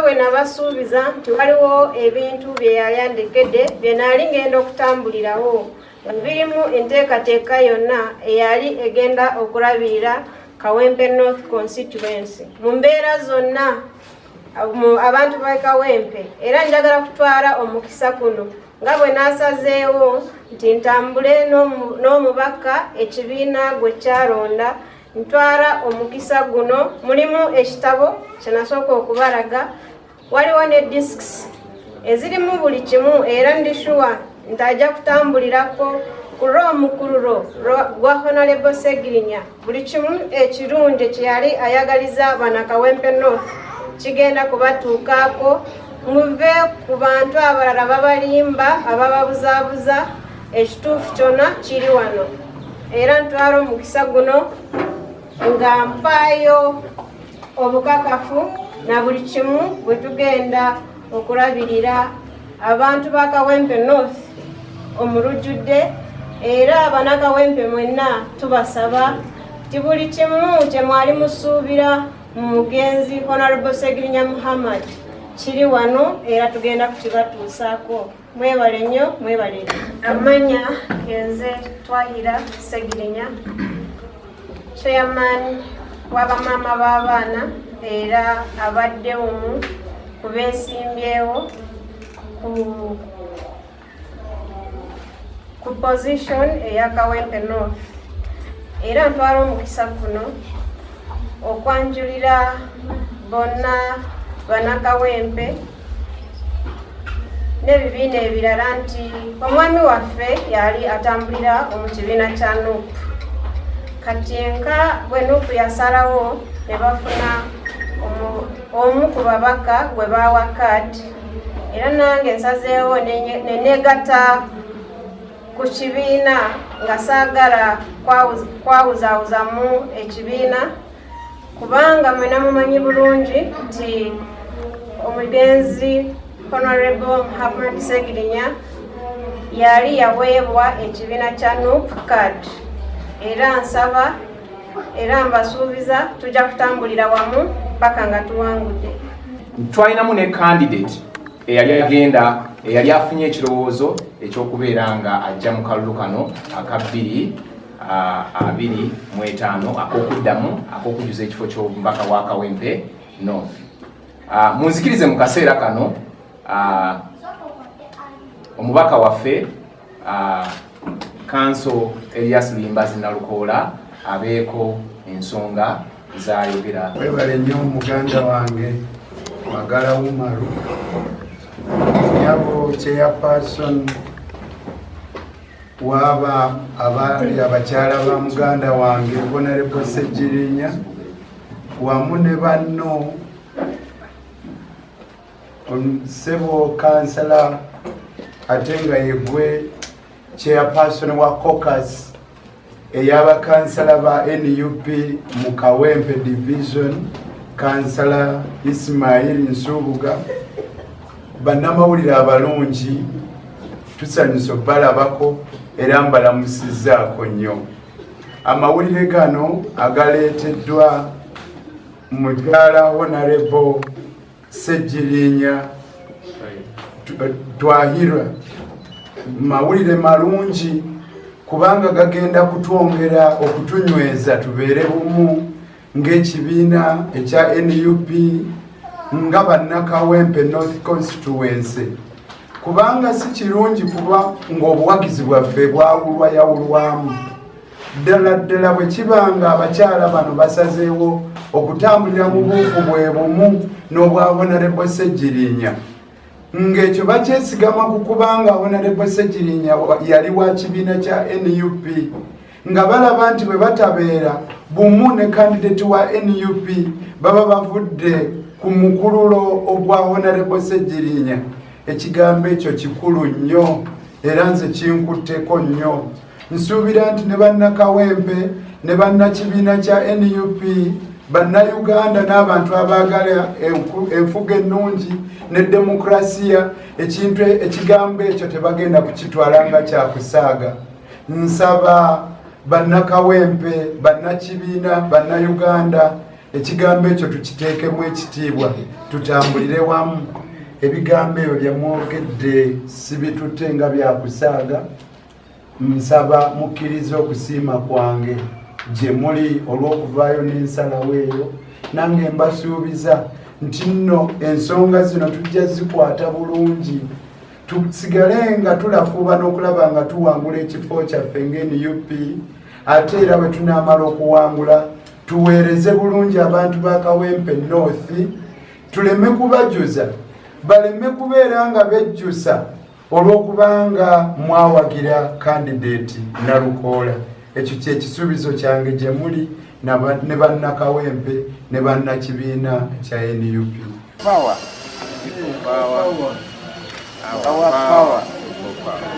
bwe nabasuubiza nti waliwo ebintu bye yali andegedde bye naali ngenda okutambulirawo nga birimu enteekateeka yonna eyali egenda okulabirira kawempe north constituency mu mbeera zonna abantu ba kawempe era njagala kutwala omukisa kuno nga bwe nasazeewo nti ntambule n'omubaka ekibiina gwe kyalonda ntwala omukisa guno mulimu ekitabo kyenasooka okubalaga waliwo ne disks ezirimu buli kimu era ndi shuwa nti ajja kutambulirako ku lw'omukululo gwa honalebo segirinya buli kimu ekirungi kyeyali ayagaliza banakawempe north kigenda kubatuukaako muve ku bantu abalala babalimba abababuzaabuza ekituufu kyonna kiri wano era ntwala omukisa guno nga mpaayo obukakafu na buli kimu bwe tugenda okulabirira abantu ba kawempe north omulujjudde era abanakawempe mwenna tubasaba ti buli kimu kye mwali musuubira mu mugenzi honorable segirinya muhammad kiri wano era tugenda kukibatuusaako Mwebale nnyo, mwebale nnyo. Amanya genze Twahira Segirinya, chairman w'abamaama b'abaana era abadde omu ku beesimbyewo ku ku position eya Kawempe North era ntwala omukisa guno okwanjulira bonna banakawempe n'ebibiina ebirala nti omwami waffe yali atambulira mu kibiina kya nup kati nka bwe nup yasalawo ne bafuna omu ku babaka gwe baawa kaadi era nange nsazeewo neneegata ku kibiina nga saagala kwawuzaawuzamu ekibiina kubanga mwena mumanyi bulungi nti omugenzi honorable muhammad segirinya yali yaweebwa ekibiina kya nup card era nsaba era mbasuubiza tujja kutambulira wamu paka nga tuwangudde twalinamu ne candidate eyali agenda eyali afunye ekirowoozo ekyokubeera nga ajja mu kalulu kano akabbiri abiri mu etaano ak'okuddamu ak'okujuza ekifo ky'omubaka wa Kawempe North. Munzikirize mu kaseera kano omubaka waffe kanso Elias Luyimbazi Nalukoola abeeko ensonga zayogera. Webale nnyo muganda wange Magala Umaru nyabo chairperson waaba abaali abakyala ba muganda wange bonalebo ssegirinya wamu ne banno sebo kansala ate nga yegwe chairperson wa cocas eyabakansala ba nup mu kawempe division kansala ismail nsubuga bannamawulire abalungi tusanyusa obalabako era mbalamusizaako nnyo amawulire gano agaleeteddwa mukyala honarebo Ssegirinya Twahirwa, mawulire malungi kubanga gagenda kutwongera okutunyweza tubeere bumu ng'ekibiina ekya nup nga bannakawempe north constituency kubanga si kirungi kuba ng'obuwagizi bwaffe bwawulwayawulwamu ddala ddala bwe kiba nga abakyala bano basazeewo okutambulira mu buufu bwe bumu n'obwa honarebo ssegirinya ng'ekyo bakyesigama ku kubanga honarebo ssegirinya yali wa kibiina kya nup nga balaba nti bwe batabeera bumu ne kandidati wa nup baba bavudde ku mukululo ogwa honarebo ssegirinya ekigambo ekyo kikulu nnyo era nze kinkutteko nnyo Nsuubira nti ne bannakawempe ne bannakibiina kya nup bannayuganda n'abantu abaagala enfuga ennungi ne demokurasiya ekintu e, ekigambo ekyo tebagenda kukitwala nga kyakusaaga nsaba bannakawempe bannakibiina bannayuganda ekigambo ekyo tukiteekemu ekitiibwa tutambulire wamu ebigambo ebyo byemwogedde sibitutte nga byakusaaga Nsaba mukkirize okusiima kwange gye muli olw'okuvaayo n'ensalawo eyo, nange mbasuubiza nti nno ensonga zino tujja zikwata bulungi tusigale nga tulafuuba n'okulaba nga tuwangula ekifo kyaffe ng'enup ate era bwe tunaamala okuwangula tuweereze bulungi abantu ba kawempe north tuleme kubajuza baleme kubeera nga bejjusa olw'okubanga mwawagira kandideeti nalukoola ekyo kyekisuubizo kyange gye muli ne bannakawempe ne bannakibiina kya nup power. Power. Power. Power. Power.